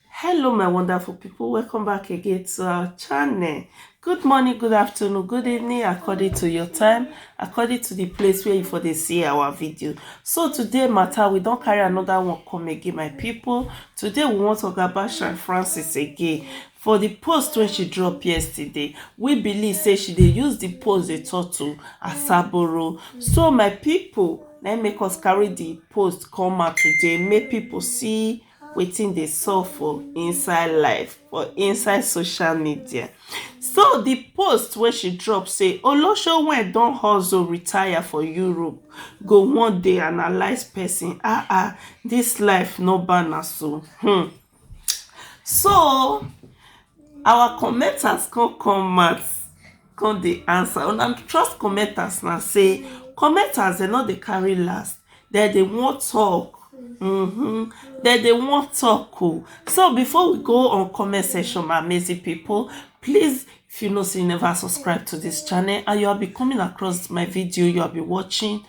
hello my wonderful people welcome back again to our channel good morning good afternoon good evening according to your time according to the place where you for dey see our video so today matter we don't carry another one come again my people today we want to talk about Sean Francis again for the post when she dropped yesterday we believe say she they use the post dey talk to asaboro so my people let me make us carry the post come out today make people see wetin dey sup for inside life for inside social media so di post wey she drop say olosho wey don hustle retire for europe go one day analyse person ah ah dis life no banna so hmm so Our commenters come come out come dey answer una trust commenters na sey commenters dem no dey carry last dem dey wan talk um dem dey wan talk oh so before we go on comment section my amazing people please if you know sey you never subscribe to this channel and you are be coming across my video you are be watching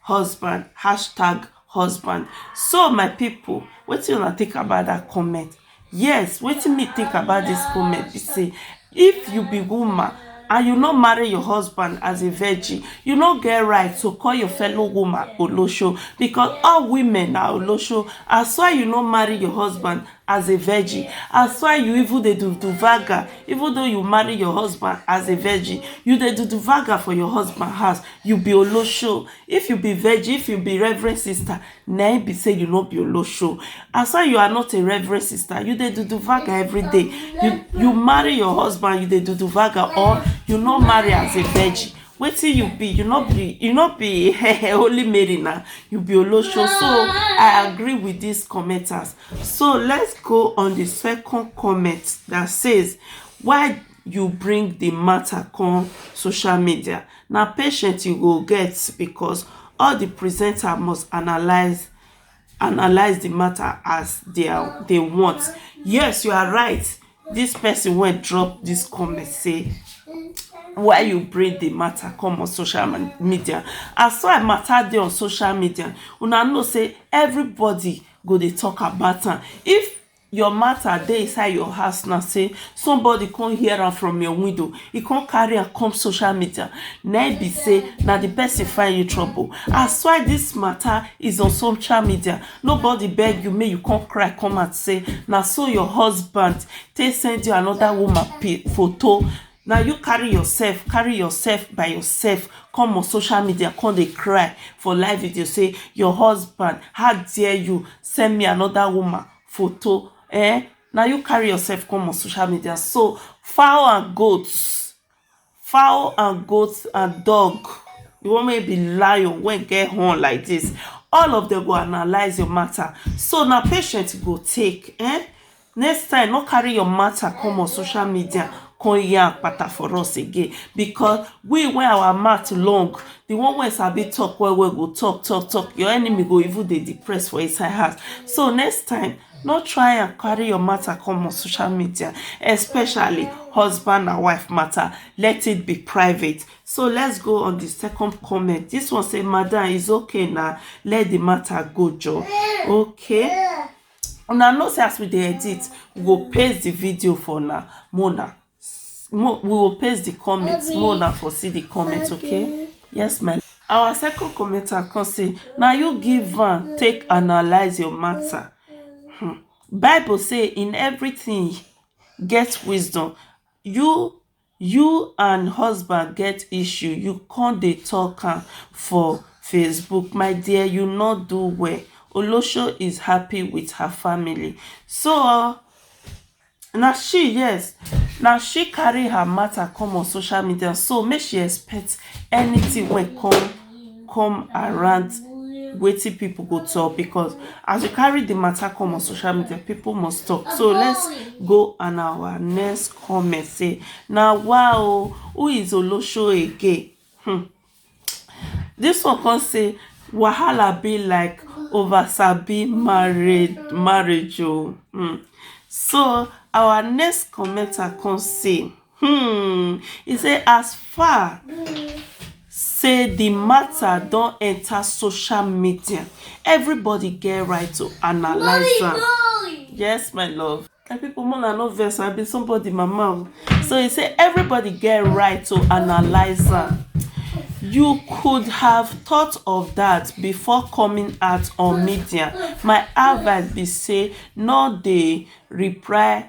husband hashtag husband so my people wetin una think about that comment yes wetin me think about this comment be say if you be woman and you no marry your husband as a virgin you no get right to call your fellow woman olosho because all women na olosho as why you no marry your husband as a virgin as why you even dey do do vaga even though you marry your husband as a virgin you dey do do vaga for your husband house you be olosho if you be virgin if you be reverend sister na im be say you no be olosho as why you are not a reverend sister you dey do do vaga every day you you marry your husband you dey do do vaga or you no marry as a virgin wetin you be you no be you no be holy mary na you be olosho so i agree with these commenters So let's go on the second comment that says why you bring the matter come social media na patient you go get because all the presenter must analyze analyze the matter as they are they want yes you are right this person wey drop this comment say why you bring the matter come on social media as far matter dey on social media una know say everybody go dey talk about am if your matter dey inside your house now say somebody come hear am from your window e come carry am come social media na be say na the person find you trouble as why this matter is on social media nobody beg you make you come cry come out say na so your husband take send you another woman photo Na you carry yourself carry yourself by yourself come on social media come dey cry for live video say your husband how dare you send me another woman photo eh na you carry yourself come on social media so fowl and goats fowl and goats and dog the one wey be lion wey get horn like this all of them go analyse your matter so na patient you go take eh Next time no carry your matter come on social media come yarn kpata for us again because we wey our mouth long the one wey sabi talk well well go talk talk talk your enemy go even dey depressed for inside house so next time no try and carry your matter come on social media especially husband and wife matter let it be private so let's go on the second comment this one say madam is okay now let the matter go joe okay Una know say as we dey edit we go paste the video for una make una we go paste the comment make una for see the comment okay yes my our second commenter come say na you give am take analyze your matter um bible say in everything get wisdom you You and husband get issue you come dey talk am for Facebook my dear you no do well Olosho is happy with her family so na she yes na she carry her matter come on social media so make she expect anything wey come come around wetin people go talk because as you carry the matter come on social media people must talk so let's go on our next comment say now wow who is olosho again hmm. this one can say wahala be like over sabi married marriage oh hmm. so our next commenter can say um e say as far say di mata don enta social media evribodi get right to analyse am yes my love my pipo make una no vex i be somebodi mama o so e say evribodi get right to analyse am you could have thought of dat before coming out on media my advice be say no dey reply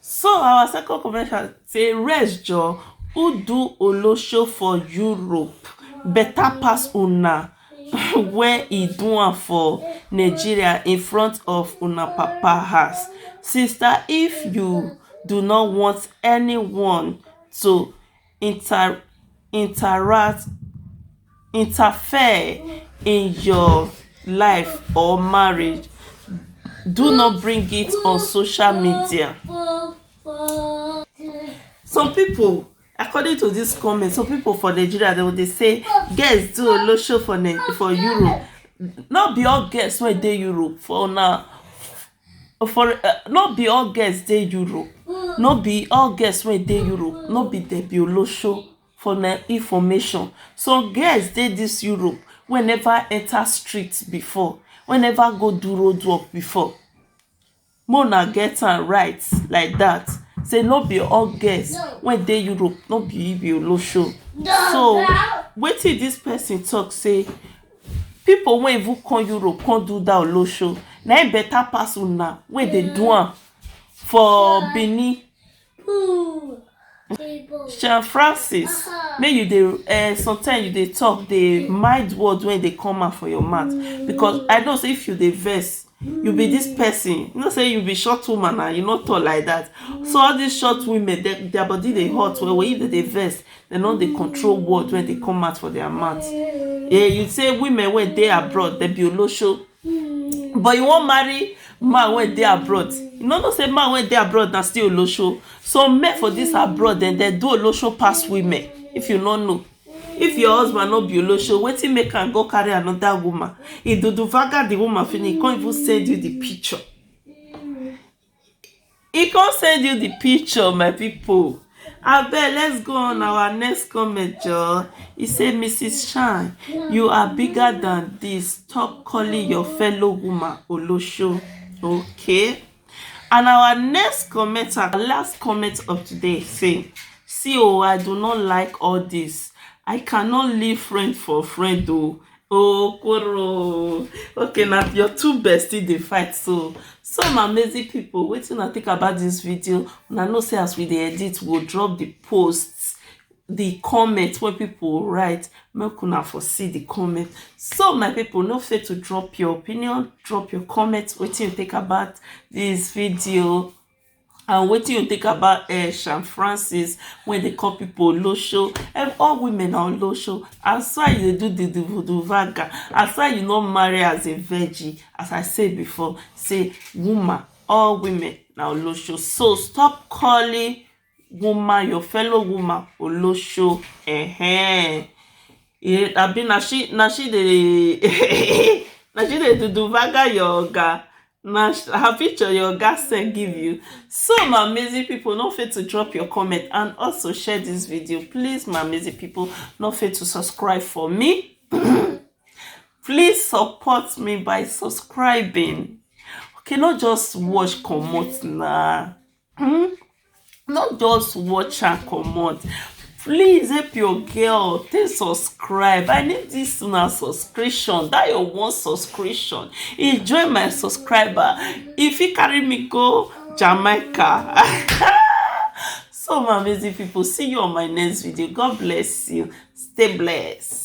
So our second confession say rest joor who do olosho for Europe better pass una where e do am for Nigeria in front of una papa house. Sister if you do not want anyone to inter interact interfere in your life or marriage do not bring it on social media some people according to this comment some people for nigeria they will dey say girls do olosho for for europe no be all girls wey dey europe for una For uh, no be all girls dey Europe, no be all girls wey dey Europe, no be dem be olosho for na information. So girls dey this Europe wey never enter street before, wey never go do road work before. Make una get am right like that say no be all girls wey dey Europe no be be olosho. So wetin this person talk say people wey even come europe come do that olosho na im better pass una wey dey do am for benin sean francis make you dey uh, sometimes you dey talk dey mind word wey dey come out for your mouth because i know say if you dey vex you be this person you know say you be short woman and you no tall like that so all these short women their, their body dey hot well well if they dey vex they no dey control word when they come out for their mouth yeah you say women wey dey abroad they be olosho but you wan marry man wey dey abroad you no know say man wey dey abroad na still olosho so men for this abroad dem dey do olosho pass women if you no know If your husband no be olosho, wetin make am go carry another woman? He do do vaga the woman finish, he can't even send you the picture. He can't send you the picture, my people. I bet let's go on our next comment, Joe. He said, Mrs. Shine, you are bigger than this. Stop calling your fellow woman Olosho. Okay. And our next comment and last comment of today say, see oh, I do not like all this. I cannot leave friend for friend oh. Oh, Koro. Okay, now your two bestie they fight so. Some amazing people waiting to think about this video. Una know say as we dey edit, we'll drop the posts the comment wey people write make una for see the comment so my people no fail to drop your opinion drop your comment wetin you think about this video and wetin you think about uh, Sean Francis when they call people olosho and all women are olosho as why you do the duvaga as why you not marry as a virgin as I said before say woman all women now olosho so stop calling woman your fellow woman olosho eh eh abi na she na she dey na she dey duduvaga your oga na her picture your oga send give you so my amazing people no fail to drop your comment and also share this video please my amazing people no fail to subscribe for me please support me by subscribing okay not just watch comot na Mm, not just watch her comot please help your girl take subscribe i need this una subscription that your one subscription e join my subscriber e fit carry me go jamaica so my amazing people see you on my next video god bless you stay blessed